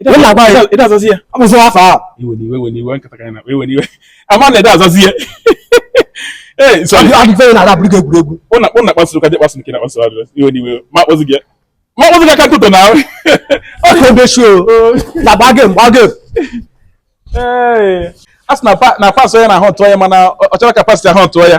ị da-azazi ya abụzi afọ a iwe n'iwe iwe n'iwe nkata ka na iwe n'iwe a ma na ị da-azazi ya ee so adịfe na ada bụrụ egwuregwu ụna ụna kpasuru ka dị kpasu nke na kpasu adị iwe n'iwe ma kpọzi gị ma kpọzi gị aka ntụtụ n'ahụ ọkụ ebe shi o na agba gị mgba gị ee a sị na pas onye na ahụ tụọ ya mana ọ chọrọ ka pas ahụ tụọ ya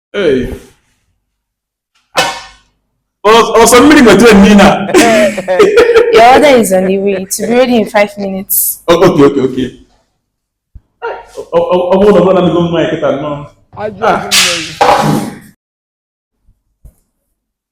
ọsọ mmiri nweta emi na. Your order is on the way. It will be ready in five minutes. Oh, okay, okay, okay. Ọ bụrụ na ọ bụrụ na mmiri kịta nnọọ.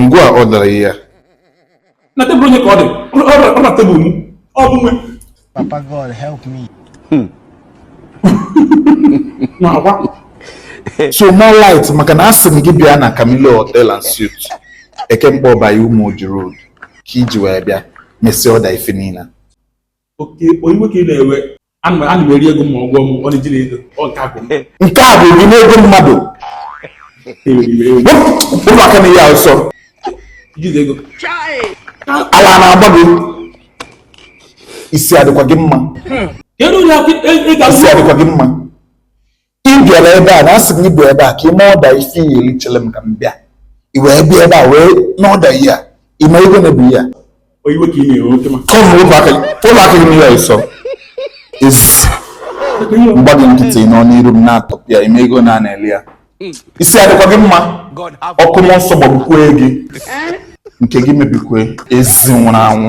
ngwa ọda ihe a na tebụl onye ka ọ dị ọ na tebụl m ọ bụ nwe papa God help me hmm. so more light maka na asị m gị bịa na Camilo Hotel and Suite Eke Nkpor by Umuoji Road ka i ji wee bịa mesịa ọda ife niile okay ọ iwe ka ị na-ewe ana m- ana m eri ego m ma ọ gwọ m ọ na-eji na ego ọ nke akwụ m nke a bụ gị n'ego mmadụ ewere iwe ewe wepụ wepụ aka n'ihe a ọsọ i ji na ego ala na-agba gị isi adịkwa gị mma kedu onye akụ ị ga isi adịkwa gị mma ị bịara ebe a na asị gị bịa ebe a ka i mee ọda ife ị ya-eli chere m ka m bịa i wee bịa ebe a wee na-ọda ihe a ị ma ego one bụ ihe a ọ iwe ka ị na-ewe oke ma come wọlụ aka gị n'ihe a ọsọ ị sị m gba gị nkịtị nọ n'iru m na-atọpịa ị ma ego one a na-ele ya isi adịkwa gị mma ọkụ mmụọ nsọ gbagbukwue gị nke gị mebikwue ezi nwụrụ anwụ